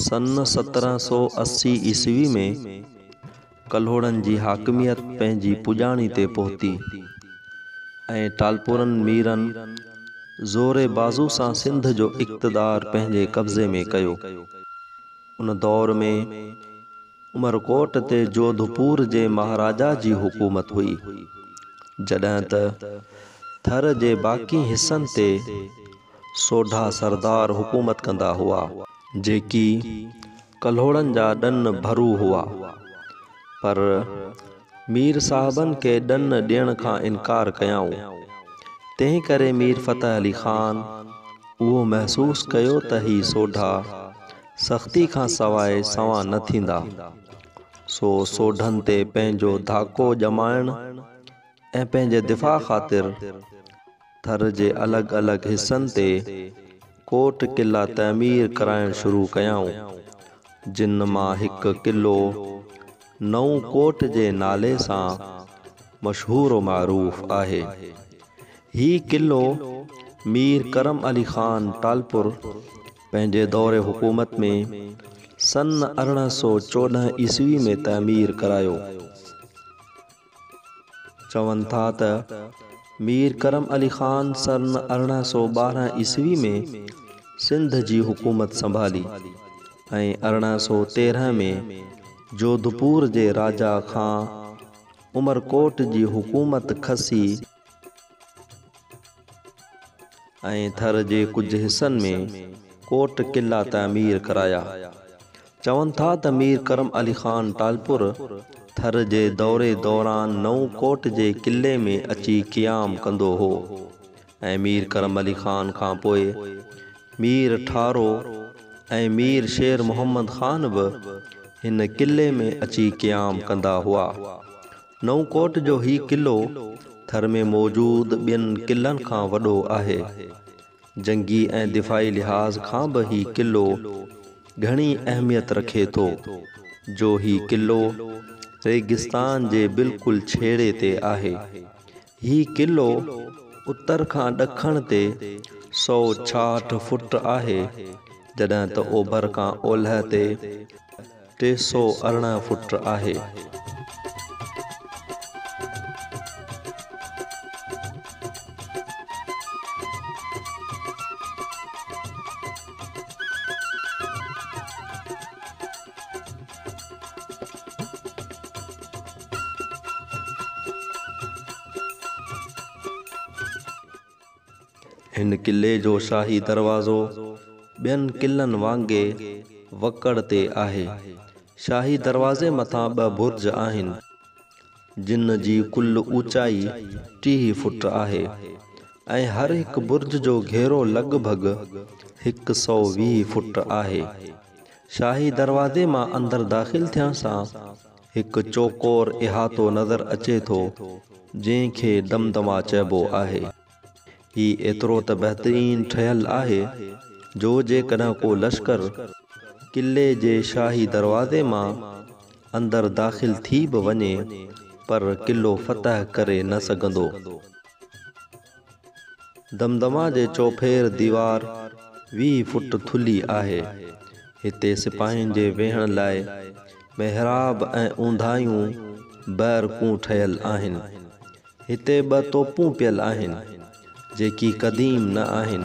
سن سترهن سؤ اسي عيسوي ۾ ڪلهوڙن جي حاڪميت پنهنجي پڄاڻي تي پهتي ۽ ٽالپورن ميرن زور بازو سان سنڌ جو اقتدار پنهنجي قبضي ۾ ڪيو. ان دور ۾ عمرڪوٽ تي جوڌپور جي مهاراجا جي حڪومت هئي، جڏهن ته ٿر جي باقي حصن تي سوڍا سردار حڪومت ڪندا هئا، جيڪي ڪلهوڙن جا ڏن ڀرو هئا، پر مير صاحبن کي ڏن ڏيڻ کان انڪار ڪيائون، تنهن ڪري مير فتح علي خان اهو محسوس ڪيو ته هي سوڍا سختي کان سواء سنوان نه ٿيندا، سو سوڍن تي پنهنجو ڌاڪو ڄمائڻ ۽ پنهنجي دفاع خاطر، ٿر جي الڳ الڳ حصن تي ڪوٽ قلعا تعمير ڪرائڻ شروع ڪيائون، جن مان هڪ قلعو نئون ڪوٽ جي نالي سان مشهور و معروف آهي. هي قلعو مير ڪرم علي خان ٽالپر پنهنجي دور حڪومت ۾ سن ارڙهن سؤ چوڏهن عيسوي ۾ تعمير ڪرايو. چون ٿا ته مير ڪرم علي خان سن ارڙهن سؤ ٻارهن عيسوي ۾ سنڌ جي حڪومت سنڀالي ۽ ارڙهن سؤ تيرهن ۾ جوڌپور جي راجا کان عمرڪوٽ جي حڪومت کسي ۽ ٿر جي ڪجهه حصن ۾ ڪوٽ قلعا تعمير ڪرايا. چون ٿا ته مير ڪرم علي خان ٽالپور ٿر جي دوري دوران نئون ڪوٽ جي قلعي ۾ اچي قيام ڪندو هو ۽ مير ڪرم علي خان کان پوء مير ٺارو ۽ مير شير محمد خان به هن قلعي ۾ اچي قيام ڪندا هئا. نئون ڪوٽ جو هي قلعو ٿر ۾ موجود ٻين قلعن کان وڏو آهي. جنگي ۽ دفاعي لحاظ کان به هي قلعو گهڻي اهميت رکي ٿو، جو هي قلعو ريگستان جي بلڪل ڇيڙي تي آهي. هي قلعو اتر کان ڏکڻ تي سؤ ڇاهٺ فوٽ آهي، جڏهن ته اوڀر کان اولهه تي ٽي سؤ ارڙهن فوٽ آهي. هن قلعي جو شاهي دروازو ٻين قلعن وانگي وڪڙ تي آهي. شاهي دروازي مٿان ٻه برج آهن، جن جي ڪل اوچائي ٽيهه فوٽ آهي ۽ هر هڪ برج جو گهيرو لڳ ڀڳ هڪ سؤ ويهه فوٽ آهي. شاهي دروازي مان اندر داخل ٿيڻ سان هڪ چوڪور احاطو نظر اچي ٿو، جنهن کي دمدما چئبو آهي. هي ايترو ته بهترين ٺهيل آهي جو جيڪڏهن ڪو لشڪر قلعي جي شاهي دروازي مان اندر داخل ٿي به وڃي پر قلعو فتح ڪري نه سگهندو. دمدما جي چوڦير ديوار ويهه فوٽ ٿلهي آهي. هتي سپاهين جي ويهڻ لاء محراب ۽ اونداهيون بئرڪون ٺهيل آهن. هتي ٻه توپون پيل آهن، جيڪي قديم نه آهن.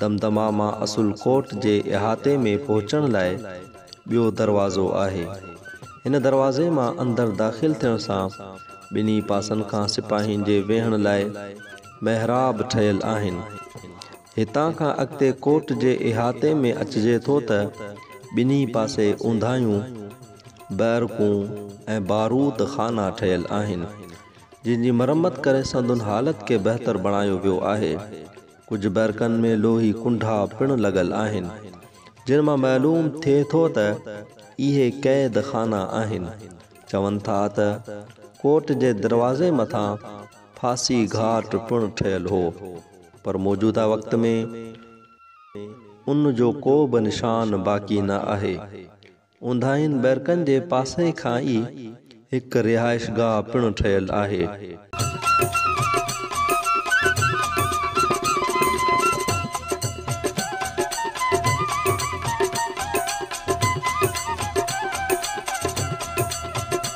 دمدما مان اصل ڪوٽ جي احاطي ۾ پهچڻ لاء ٻيو دروازو آهي. هن دروازي مان اندر داخل ٿيڻ سان ٻنهي پاسن کان سپاهين جي ويهڻ لاء محراب ٺهيل آهن. هتان کان اڳتي ڪوٽ جي احاطي ۾ اچجي ٿو ته ٻنهي پاسي اونداهيون بئرڪون ۽ بارود خانا ٺهيل آهن، جن جي مرمت ڪري سندن حالت کي بهتر بڻايو ويو آهي. ڪجهه بئرڪن ۾ لوهي ڪنڍا پڻ لڳل آهن، جن مان معلوم ٿئي ٿو ته اهي قيد خانا آهن. چون ٿا ته ڪوٽ جي دروازي مٿان ڦاسي گهاٽ پڻ ٺهيل هو، پر موجوده وقت ۾ ان جو ڪو به نشان باقي نه آهي. اونداهين بئرڪن جي پاسي کان ئي هڪ رهائشگاهه پڻ ٺهيل آهي.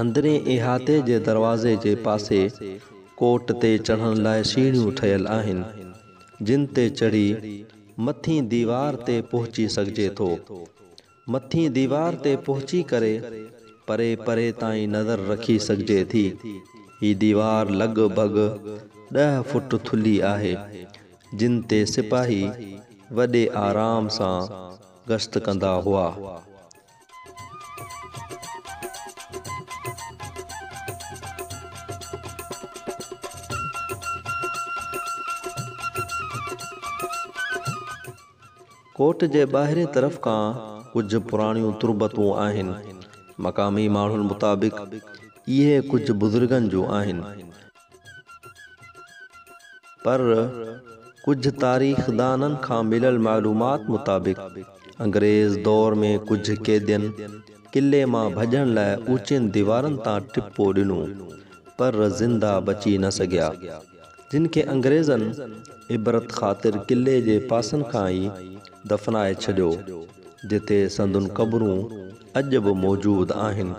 اندرين احاطي جي دروازي جي پاسي ڪوٽ تي چڙهڻ لاء سيڙهيون ٺهيل آهن، جن تي چڙهي مٿين ديوار تي پهچي سگهجي ٿو. مٿين ديوار تي پهچي ڪري پري پري تائين نظر رکي سگهجي ٿي. هي ديوار لڳ ڀڳ ڏهه فوٽ ٿلهي آهي، جن تي سپاهي وڏي آرام سان گشت ڪندا هئا. ڪوٽ جي ٻاهرين طرف ڪا ڪجهه پراڻيون تربتون آهن. مقامي ماڻهن مطابق اهي ڪجهه بزرگن جون آهن. پر ڪجهه تاريخدانن کان مليل معلومات مطابق انگريز دور ۾ ڪجهه قيدين قلعي مان ڀڄڻ لاء اوچين ديوارن تان ٽپو ڏنو پر زنده بچي نه سگهيا جن کي انگريزن عبرت خاطر قلعي جي پاسن کان ئي دفنائي ڇڏيو جتي سندن قبرون اڄ به موجود آهن.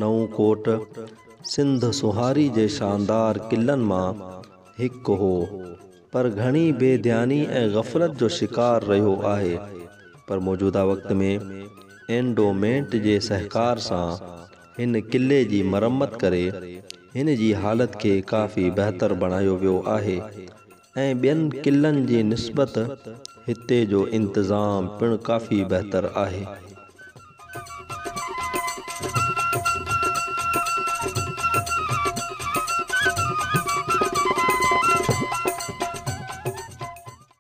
نئون ڪوٽ سنڌ سونهاري جي شاندار قلعن مان هڪ هو پر گهڻي بي ڌياني ۽ غفلت جو شڪار رهيو آهي پر موجوده وقت ۾ اينڊومينٽ جي سهڪار سان هن قلعي جي مرمت ڪري هن جي حالت کي ڪافي بهتر بڻايو ويو آهي ۽ ٻين قلعن جي نسبت هتي جو انتظام پڻ ڪافي بهتر آهي.